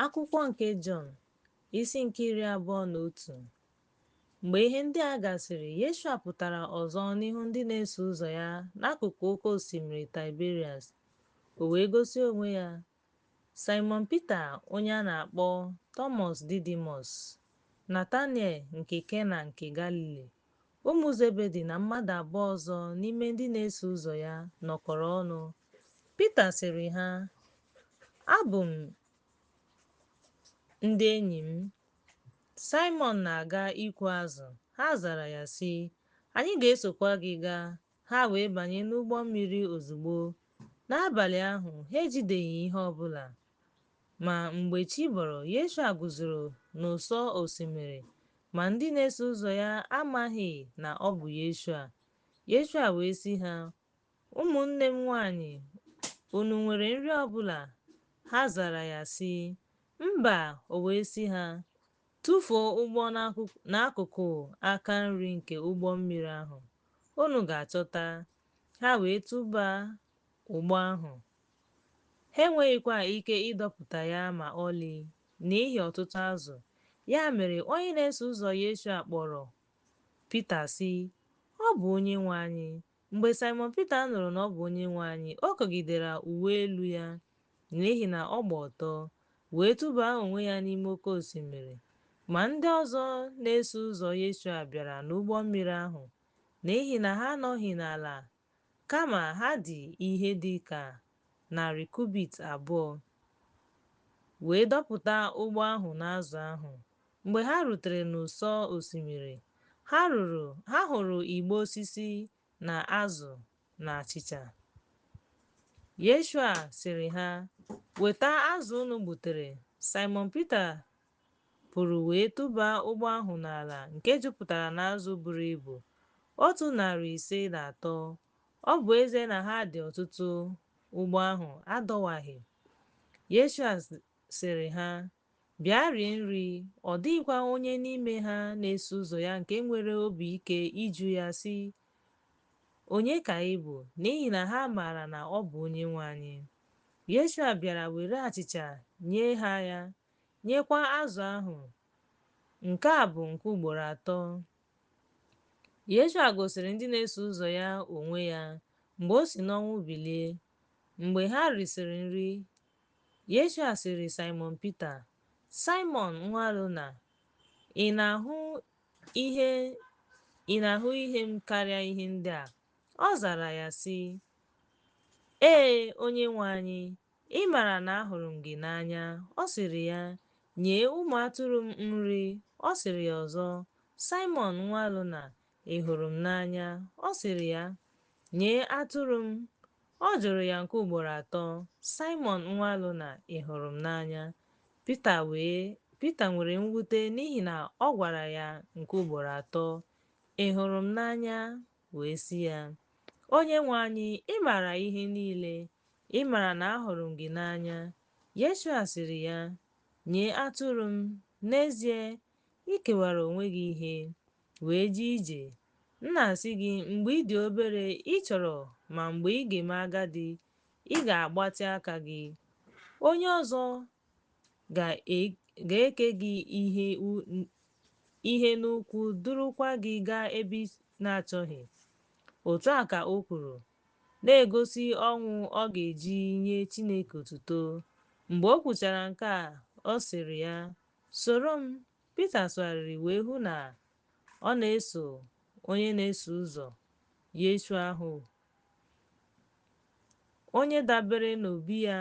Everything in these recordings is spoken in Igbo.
Akwụkwọ nke Jọn, isi nke iri abụọ na otu. Mgbe ihe ndị a gasịrị, Yeshua pụtara ọzọ n'ihu ndị na-eso ụzọ ya n'akụkụ oke osimiri Taịberias, o wee gosi onwe ya Saịmọn Pita onye a na-akpọ Tọmọs Didimọs, Nataniel nke Kena nke Galili, Ụmụ Zebedi na mmadụ abụọ ọzọ n'ime ndị na-eso ụzọ ya nọkọrọ ọnụ. Pita sịrị ha, Abụ m ndị enyi m. Saịmọn na-aga ịkụ azụ. Ha zara ya, sị, Anyị ga-esokwa gị gaa. Ha wee banye n'ụgbọ mmiri ozugbo. N'abalị ahụ, ha ejideghị ihe ọ bụla. Ma, mgbe chi bọrọ, Yeshua guzoro n'ụsọ osimiri, ma ndị na-eso ụzọ ya amaghị na ọ bụ Yeshua. Yeshua wee sị ha, Ụmụnne m nwaanyị, unu nwere nri ọ bụla? Ha zara ya, sị, Mba. O wee sị ha, Tụfuo ụgbụ n'akụkụ aka nri nke ụgbọ mmiri ahụ, unu ga-achọta. Ha wee tụba ụgbụ ahụ. Ha enweghịkwa ike ịdọpụta ya ma ọlị n'ihi ọtụtụ azụ. Ya mere, onye na-eso ụzọ Yeshua kpọrọ Pita, sị, Ọ bụ Onyenwe anyị! Mgbe Saịmọn Pita nụrụ na ọ bụ Onyenwe anyị, o kogidere uwe elu ya, n'ihi na ọ gba ọtọ, wee tụbaa onwe ya n'ime oke osimiri. Ma ndị ọzọ na-eso ụzọ Yeshua bịara n'ụgbọ mmiri ahụ, n'ihi na ha anọghị n'ala, kama ha dị ihe dị ka narị kubit abụọ, wee dọpụta ụgbụ ahụ n'azụ ahụ. Mgbe ha rutere n'ụsọ osimiri, ha ruru, ha hụrụ igbe osisi na azụ na achịcha. Yeshua sịrị ha, Weta azụ unu gbutere. Saịmọn Pita pụrụ wee tụba ụgbụ ahụ n'ala nke jupụtara n'azụ buru ibu, otu narị ise na atọ, ọ bụ ezie na ha dị ọtụtụ, ụgbụ ahụ adọwaghị. Yeshua sịrị ha, Bịa rie nri. Ọ dịghịkwa onye n'ime ha na-eso ụzọ ya nke nwere obi ike ịjụ ya, sị, Onye ka ị bụ? N'ihi na ha maara na ọ bụ Onyenwe anyị. Yeshua bịara were achịcha nye ha ya, nyekwa azụ ahụ. Nke a bụ nke ugboro atọ. Yeshua gosiri ndị na-eso ụzọ ya onwe ya mgbe o si n'ọnwụ bilie. Mgbe ha risịrị nri, Yeshua sịrị Saịmọn Pita, Saịmọn nwa Lona, ị na-ahụ ihe m karịa ihe ndị a? Ọ zara ya sị, Ee, Onyenwe anyị, Ị maara na ahụrụ m gị n'anya. Ọ sịrị ya, Nye ụmụ atụrụ m nri. Ọ sịrị ya ọzọ, Saịmọn nwa Jona, ị hụrụ m n'anya? Ọ sịrị ya, Nye atụrụ m. Ọ jụrụ ya nke ugboro atọ, Saịmọn nwa Jona, ị hụrụ m n'anya? Pita wee Pita nwere mwute n'ihi na ọ gwara ya nke ugboro atọ, Ị hụrụ m n'anya? wee sị ya, Onyenwe anyị, ị maara ihe niile, ị maara na ahụrụ m gị n'anya. Yeshua sịrị ya, Nye atụrụ m, n'ezie, i kewara onwe gị ihe, wee jee ije. M na-asị gị, mgbe ị dị obere, ị chọrọ, ma mgbe ị ga-eme agadi, ị ga-agbatị aka gị. Onye ọzọ ga-eke gị ihe n'ukwu durukwa gị gaa ebe ị na-achọghị. Otu a ka o kwuru, na-egosi ọnwụ ọ ga-eji nye Chineke otuto. Mgbe o kwuchara nke a, ọ sịrị ya, Soro m. Pita sụgharịrị wee hụ na ọ na-eso onye na-eso ụzọ Yeshua ahụ, onye dabere n'obi ya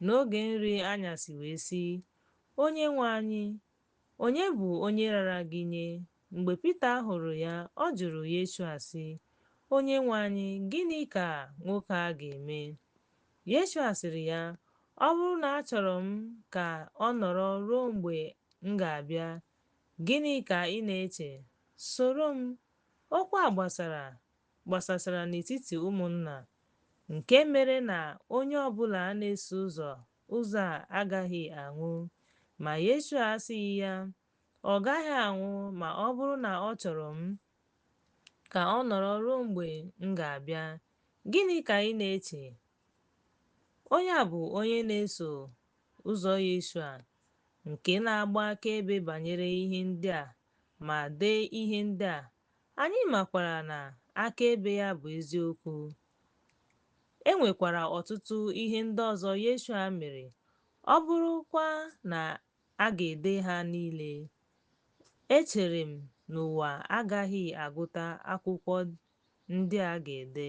N'oge nri anyasị wee sị, Onyenwe anyị, onye bụ onye rara gị nye? Mgbe Pita hụrụ ya, ọ jụrụ Yeshua sị, Onyenwe anyị, gịnị ka nwoke a ga-eme? Yeshua sịrị ya, Ọ bụrụ na achọrọ m ka ọ nọrọ ruo mgbe m ga-abịa, gịnị ka ị na-eche? Soro m. Okwu a gbasara gbasasara n'etiti ụmụnna nke mere na onye ọ bụla na-eso ụzọ ụzọ a agaghị anwụ. Ma Yeshua asịghị ya, Ọ gaghị anwụ ma ọ bụrụ na ọ chọrọ m ka ọ nọrọ ruo mgbe m ga-abịa. Gịnị ka ị na-eche? Onye a bụ onye na-eso ụzọ Yeshua nke na-agba akaebe banyere ihe ndị a ma dee ihe ndị a Anyị makwara na akaebe ya bụ eziokwu. E nwekwara ọtụtụ ihe ndị ọzọ Yeshua mere, ọ bụrụkwa na a ga-ede ha niile, echere m na ụwa agaghị agụta akwụkwọ ndị a ga-ede.